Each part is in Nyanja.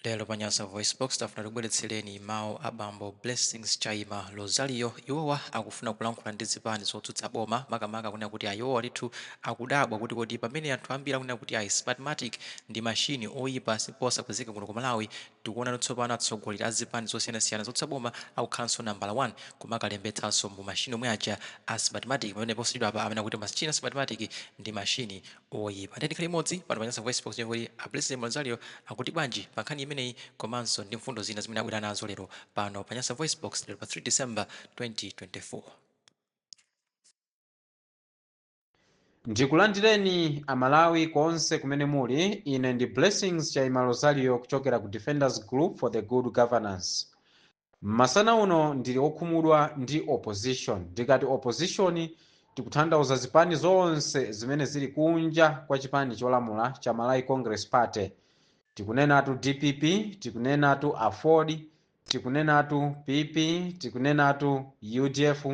Lero pa Nyasa VoiceBox, tafuna tikubweretsereni mawu a bambo Blessings Chaima Rosario. Iwowa akufuna kulankhula ndi zipani zotsutsa boma, makamaka kunena kuti ayi iwowa ndithu akudabwa kuti kodi pamene anthu ambiri akunena kuti ayi Smartmatic ndi machine oyipa ndipo osapezeka kuno ku Malawi, tikuwona tsopano atsogoleri a zipani zosiyanasiyana zotsutsa boma akukhalanso nambala 1 kumakalembetsanso mu machine omwe aja a Smartmatic pamene posachedwapa amanena kuti machine a Smartmatic ndi machine oyipa nde tikhale limodzi pano pa Nyasa Voicebox ndiye kuti a Blessings Chaima Rosario akuti bwanji pa nkhani imeneyi komanso ndi mfundo zina zimene abwera nazo lero pano pa Nyasa Voicebox lero pa 3 December 2024. Ndikulandireni amalawi konse kumene muli, ine ndi Blessings Chaima Rosario kuchokera ku Defenders Group for the Good Governance. Masana uno ndili okhumudwa ndi opposition. Ndikati opposition tikutanthauza zipani zonse zimene zili kunja kwa chipani cholamula cha Malawi Congress Party. Tikunenatu dpp, tikunenatu aford, tikunenatu PP, tikunenatu udf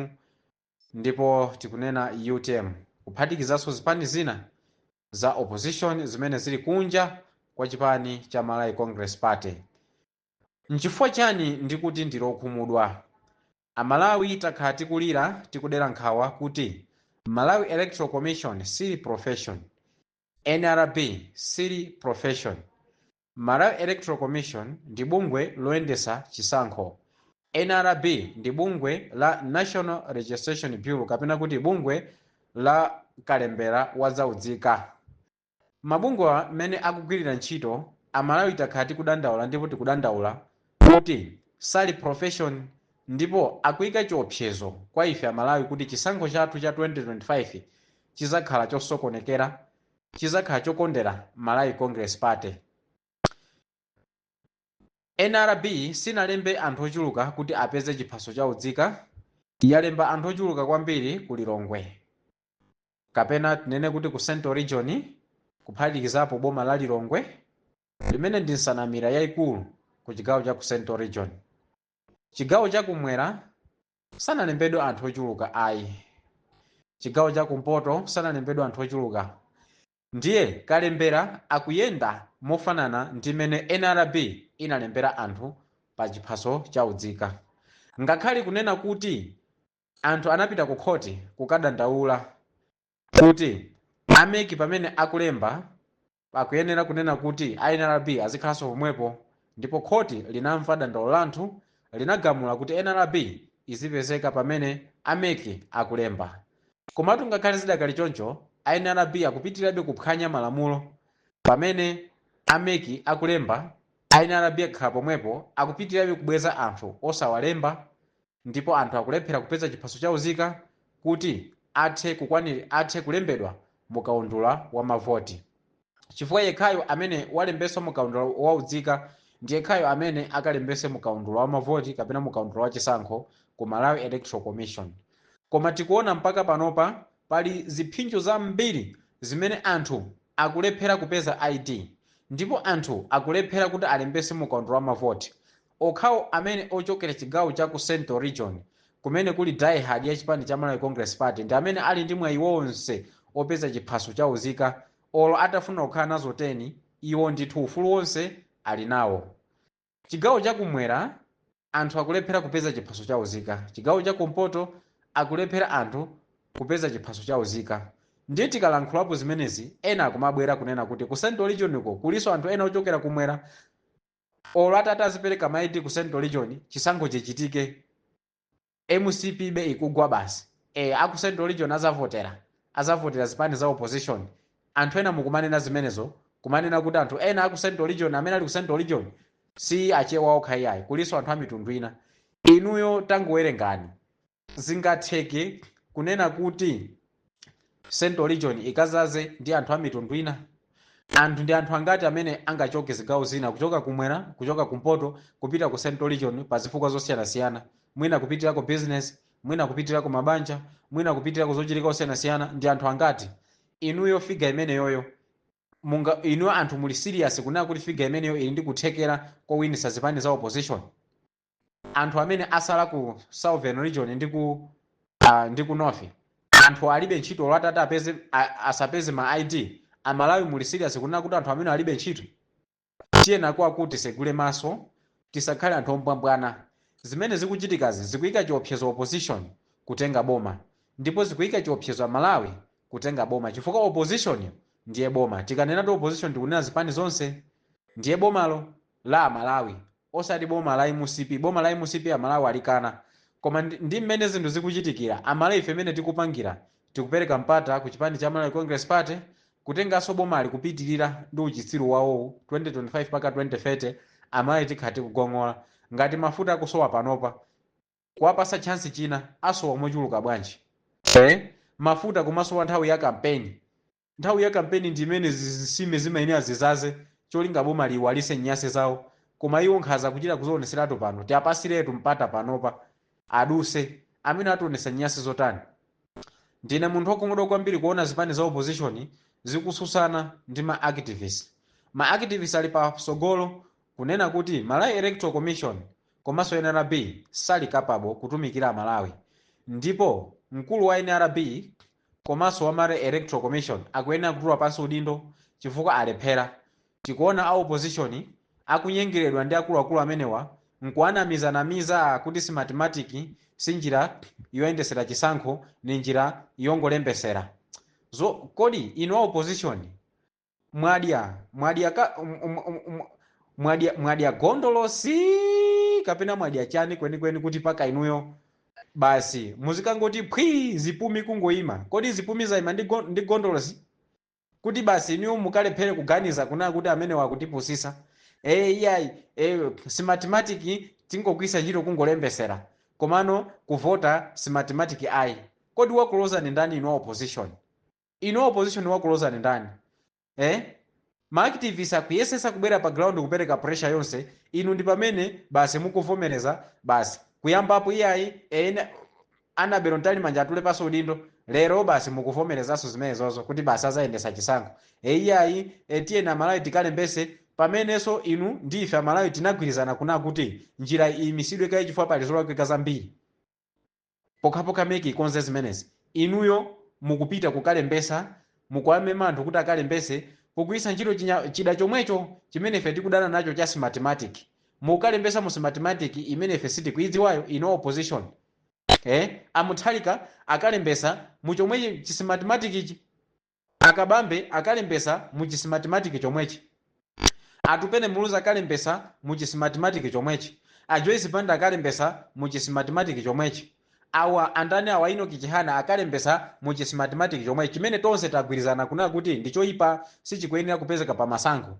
ndipo tikunena utm kuphatikizaso zipani zina za opposition zimene zili kunja kwa chipani cha Malawi Congress Party. Nchifukwa chani ndikuti ndili okhumudwa? Amalawi takhala tikulira tikudera nkhawa kuti Malawi Electoral Commission sili profession, nrb sili profession. Malawi Electoral Commission ndi bungwe loyendesa chisankho, nrb ndi bungwe la National Registration Bureau kapena kuti bungwe la kalembera wa za udzika. Mabungwewa mmene akugwirira ntchito, amalawi takhala tikudandaula ndipo tikudandaula kuti sali profession ndipo akuika chiopsezo kwa ife amalawi kuti chisankho chathu cha 2025 chizakhala chosokonekera, chizakhala chokondera Malawi Congress Party. Nrb sinalembe anthu ochuluka kuti apeze chiphaso cha udzika, yalemba anthu ochuluka kwambiri ku Lilongwe. kapena tinene kuti ku Central Region kuphatikizapo boma la Lilongwe limene ndi nsanamira yaikulu ku chigawo cha ku Central Region. Chigawo cha kumwera sanalembedwe anthu ochuluka ayi. Chigawo cha kumpoto sanalembedwe anthu ochuluka. Ndiye kalembera akuyenda mofanana ndi mmene nrb inalembera anthu pa chiphaso cha udzika. Ngakhale kunena kuti Anthu anapita ku khoti kukadandaula kuti a mec pamene akulemba akuyenera kunena kuti a nrb azikhalanso pomwepo ndipo khoti linamva dandaulo la anthu linagamula kuti nrb izipezeka pamene a mec akulemba. Komatu ngakhale zidakali choncho a nrb akupitirirabe kuphwanya malamulo pamene a mec akulemba a nrb akakhala pomwepo akupitirirabe kubweza anthu osawalemba ndipo anthu akulephera kupeza chiphaso cha uzika kuti athe kukwanir athe kulembedwa mu kaundula wa mavoti chifukwa yekhayo amene walembetsa mu kaundula wa uzika ndi yekhayo amene akalembetse mu kaundula wa mavoti kapena mu kaundula wa chisankho ku Malawi Electoral Commission koma tikuona mpaka panopa pali ziphinjo zambiri zimene anthu akulephera kupeza ID ndipo anthu akulephera kuti alembetse mu kaundula wa mavoti Okhawo amene ochokera chigawo cha ku Central Region kumene kuli die-hard ya chipani cha Malawi Congress Party ndi amene ali ndi mwayi wonse opeza chiphaso cha uzika olo atafuna kukhala nazo 10 iwo ndithu ufulu wonse ali nawo. Chigawo cha kumwera anthu akulephera kupeza chiphaso cha uzika, chigawo cha kumpoto akulephera anthu kupeza chiphaso cha uzika ndiye tikalankhulapo zimenezi ena akumabwera kunena kuti ku Central Region kulinso anthu ena ochokera kumwera. olo atati azipereka ma ID ku central region chisankho chichitike mcp be ikugwa basi eh aku central region azavotera azavotera zipani za opposition anthu ena mukumanena zimenezo kumanena kuti anthu ena aku central region amene ali ku central region si achewa okha iyayi kulinso anthu a mitundu ina inuyo tangowerengani zingatheke kunena kuti central region ikadzaze ndi anthu a mitundu ina anthu ndi anthu angati amene angachoke zigawo zina kuchoka kumwera kuchoka kumpoto kupita ku central region pa zifukwa zosiyanasiyana mwina kupitira ku business mwina kupitira ku mabanja mwina kupitirako zochitika zosiyanasiyana ndi anthu angati inuyo figa imeneyoyo inuyo anthu muli serious kunena kuti figa imeneyo ili ndi kuthekera kowinitsa zipani za opposition anthu amene atsala ku southern region ndi ku uh, ndi ku north anthu alibe ntchito olo atati apeze a- asapeze ma id amalawi muli serious kunena kuti anthu amene alibe ntchito tiyeni kwake tisegule maso tisakhale anthu ombwambwana zimene zikuchitikazi zikuyika chiopsezo opposition kutenga boma ndipo zikuyika chiopsezo amalawi kutenga boma chifukwa opposition ndiye boma tikanena ti opposition tikunena zipani zonse ndiye bomalo la amalawi osati boma la mcp boma la mcp amalawi alikana koma ndi, ndi mmene zinthu zikuchitikira amalawi ife mmene tikupangira tikupereka mpata ku chipani cha malawi congress party kutenganso bomali kupitirira ndi uchitsiru wawowu 2025 paka 2030 amalawi tikhala tikugong'ola ngati mafuta akusowa panopa kuwapasa chance china asowa mochuluka bwanji eh? mafuta kumasowa nthawi ya kampeni Nthawi ya kampeni ndi imene zisime zimayenera zizaze cholinga boma liiwalise nyase zawo koma iwo nkhaza kuchita kuzioneseratu pano tiapasiretu mpata panopa aduse amene ationesa nyase zotani ndine munthu okhumudwa kwambiri kuona zipani za opposition zikususana ndi ma activist ma activist ali pa sogolo kunena kuti Malawi Electoral Commission komaso nrb sali capable kutumikira amalawi ndipo mkulu wa nrb komaso wa malawi electoral commission akuyenera kutula pansi udindo chifukwa alephera, tikuona a opposition akunyengeledwa ndi akuluakulu amenewa nkuwanamiza namiza kuti smartmatic si njira yoyendesera chisankho ndi njira yongolembesera zo, kodi inu a opposition mwadya mwadya ka m- m- m- m- mwadya mwadya gondolosi kapena mwadya chani kwenikweni kuti paka inuyo basi muzikangoti phwi zipumi kungoima kodi zipumi zaima ndi, go, ndi gondolosi kuti basi inuyo mukalephere kuganiza kuna kuti amenewa akutipusisa e, iyayi e, smartmatic tingogwisa ntchito kungolembesera komano kuvota smartmatic ayi kodi wakulozani ndani inu a opposition Inu a opposition wakulozani ndani eh? Ma activists akuyesesa kubwera pa ground kupereka pressure yonse, inu ndi pamene basi mukuvomereza basi. Kuyambapo iyayi e Annabel Mtalimanja atule pansi udindo, lero basi mukuvomerezanso zimenezozo kuti basi azayendesa chisankho. E iyayi e, tiyeni Amalawi tikalembese pamenenso inu ndi ife Amalawi tinagwirizana kuna kuti njira iyimisidwe kaye chifukwa pali zolakwika zambiri. pokhapokha mec ikonze zimenezi inuyo mukupita kukalembesa mukuwamema anthu kuti akalembese pogwisa ntchito chinya chida chomwecho chimene ife tikudana nacho cha smartmatic mukukalembesa mu smartmatic imene ife sitikuidziwayo inu a opposition eh a mutharika akalembesa mu chomwechi chi smartmatic ichi A Kabambe akalembesa mu chi smartmatic chomwechi, Atupele Muluzi akalembesa mu chi smartmatic chomwechi, a Joyce Banda akalembesa mu chi smartmatic chomwechi, awa andani awa a Enoch Chihana akalembesa mu chi smartmatic chomwechi chimene tonse tagwirizana kunena kuti ndi choipa sichikuyenera kupezeka pa masankho.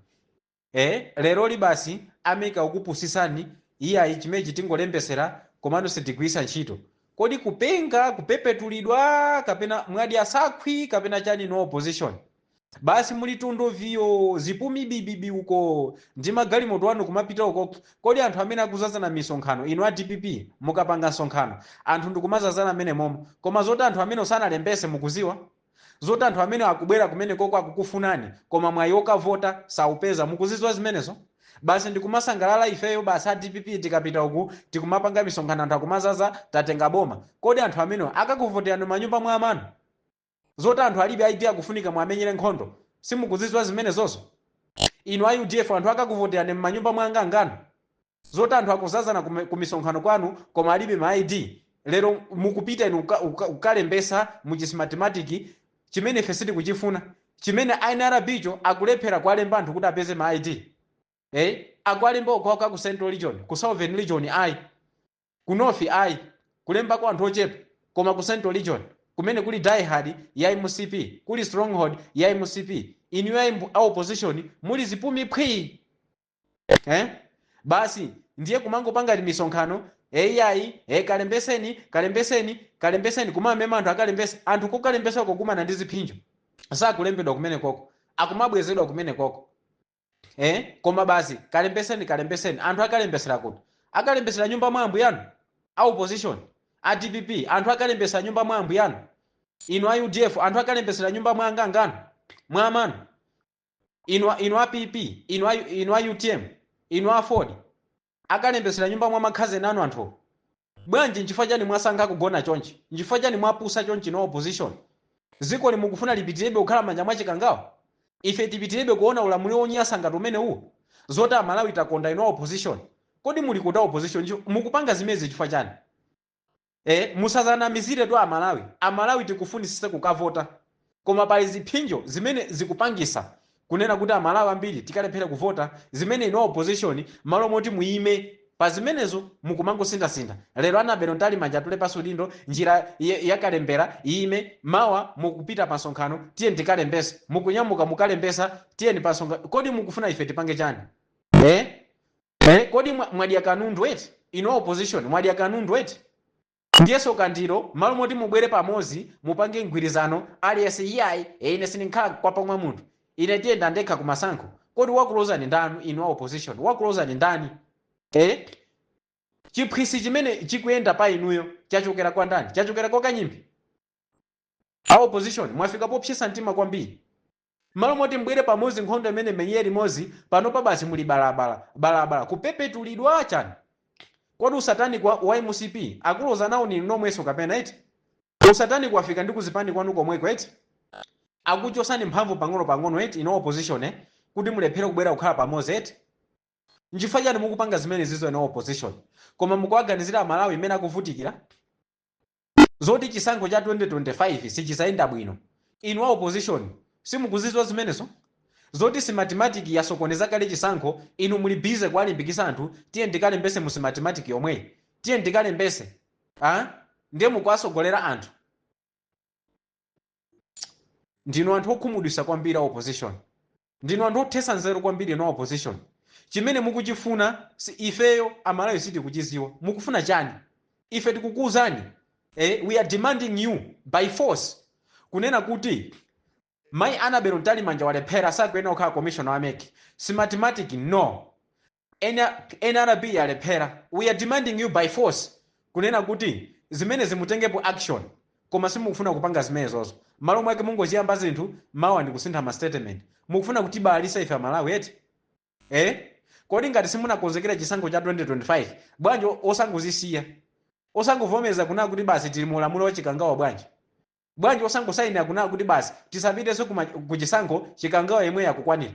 ee leroli basi a mec akukupusisani iyayi chimechi tingolembesera komano sitigwiritsa ntchito kodi kupenga kupepetulidwa kapena mwadya sakhwi kapena chani inu a opposition basi muli tundo viyo zipumi bibibi uko ndi magalimoto anu kumapita uko kodi anthu amene akuzazana misonkhano inu a dpp mukapanga msonkhano anthu ndikumazazana mmenemomo koma zoti anthu amenewo sanalembese mukuziwa Zoti anthu amene akubwera kumenekoko akukufunani koma mwayi okavota saupeza mukuzidziwa zimenezo? Basi ndikumasangalala ifeyo basi a dpp tikapita uku tikumapanga misonkhano anthu akumazaza tatenga boma. Kodi anthu amenewa akakuvoterani m'manyumba mwa amanu? Zoti anthu alibe ID akufunika muwamenyere nkhondo simukuzidziwa zimenezozo? Inu a udf anthu akakuvoterani m'manyumba mwa anganganu? zoti anthu akuzazana kume- kumisonkhano kwanu koma alibe ma id lero mukupita inu kuka- kuka- kukalembesa muchi smartmatic chimene ife sitikuchifuna chimene nrb cho akulephera kuwalemba anthu kuti apeze ma id eh? akuwalemba okhaokha ku central region ku southern region ayi ku north ayi kulemba kwa anthu ochepa koma ku central region kumene kuli diehard ya mcp kuli stronghold ya mcp inuyo ayi mbu- a opposition muli zipumi phwii eh? basi ndiye kumangopanga timisonkhano iyayi e kalembeseni kalembeseni kalembeseni kumamema anthu akalembese anthu kokalembesa kukumana ndi ziphinjo sakulembedwa kumene koko akumabwezedwa kumene koko eh? koma basi kalembeseni kalembeseni anthu akalembesera kuti akalembesera nyumba mwa ambuyanu a opposition a dpp anthu akalembesera nyumba mwa ambuyanu inu a udf anthu akalembesera nyumba mwa anganganu mwa amanu inu, a- inu a PP inu a, inu a UTM inu a Aford akalembetsera nyumba mwa makhazeni anu anthu bwanji nchifukwa chani mwasankha kugona chonchi nchifukwa chani mwapusa chonchi inu a opposition zikoli mukufuna lipitirebe kukhala m'manja mwa chikangawa ife tipitirebe kuona ulamuliro wonyasa ngati umene uwu zoti amalawi takonda inu a opposition kodi muli kuti a opposition Nchi- mukupanga zimezi chifukwa chani ee musazanamiziretu amalawi amalawi tikufunisisa kukavota koma pali ziphinjo zimene zikupangisa kunena kuti amalawi ambiri tikalephere kuvota zimene inu a opposition malo moti muime pazimenezo mukumangosinthasintha lero annabel mtalimanja atule pasi udindo njira ya ya kalembera iime mawa mukupita pa nsonkhano tiyeni tikalembese mukunyamuka mukalembesa tiyeni pa nsonkhano kodi mukufuna ife tipange chani ee Eh, kodi mwa- mwadya kanundu eti inu a opposition mwadya kanundu eti ndiyeso kandiro mmalo moti mubwere pamodzi mupange mgwirizano aliyense iyayi e ine sindikhala mkhwapa mwa munthu ine ndiyenda ndekha ku masankho kodi wakulozani ndani inu a opposition wakulozani ndani eh chiphwisi chimene chikuyenda pa inuyo chachokera kwa ndani chachokera kwa kanyimbi a opposition mwafika popsesa mtima kwambiri M'malo moti mbwere pamozi nkhondo imene mmenyere limozi panopa basi muli balabala balabala kupepetulidwa chani kodi usatanic wa, wa mcp akuloza nawo ndinu nomweso kapena eti usatanic wafika ndi kuzipani kwanu komweko eti akuchosani mphamvu pang'ono pang'ono eti inu opposition kuti mulephere kubwera kukhala pamozi eti nchifukwa chani mukupanga zimenezizo inu opposition koma mukuwaganizira amalawi mmene akuvutikira zoti chisankho cha 2025 sichizayenda bwino, inu a opposition simukuziziwa zimenezo? zoti smartmatic yasokoneza kale chisankho inu muli busy kuwalimbikisa anthu tiyeni tikalembese mu smartmatic yomweyi tiyeni tikalembese aah ndiye mukuwasogolera anthu. ndinu anthu okhumudwisa kwambiri a opposition ndinu anthu othesa nzeru kwambiri inu a opposition chimene mukuchifunachi ifeyo amalawi sitikuchiziwa mukufuna chani ife tikukuuzani eh, we are demanding you by force kunena kuti mai annabel mtalimanja walephera sakuyenera kukhala commissioner wa mec smartmatic no N R B yalephera, we are demanding you by force kunena kuti zimenezi mutengepo action koma simukufuna kupanga zimenezozo mmalo mwake mungoziyamba zinthu mawa ndikusintha ma statement mukufuna kutibalalisa ife amalawi eti ee kodi ngati simunakonzekere chisankho cha 2025 bwanji osangozisiya osangovomereza kunena kuti basi tili mu ulamuliro wa chikangawa bwanji Bwanji osangosainira kunena kuti basi tisapitenso ku ma ku chisankho chikangawa yemweyo akukwanira.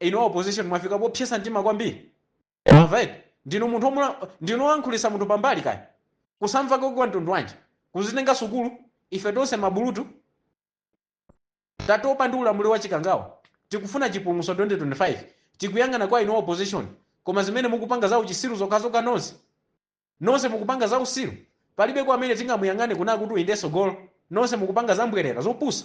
Inu a opposition mwafika popsesa mtima kwambiri mwamva eti. Ndinu munthu omulan ndinu olankhulisa munthu pambali kaya. Kusamva kwake kwa mtundu wanji? Kuzitenga sukulu? Ife tonse ma bulutu? Tatopa ndi ulamuliro wa chikangawa. Tikufuna chipulumuso 2025. Tikuyang'ana kwa inu a opposition. Koma zimene mukupanga za uchisiru zokhazokha nonse. Nonse mukupanga zausiru palibe kwa amene tingamuyang'ane kunena kuti uyu nde sogolo nonse mukupanga zambwerera zopusa.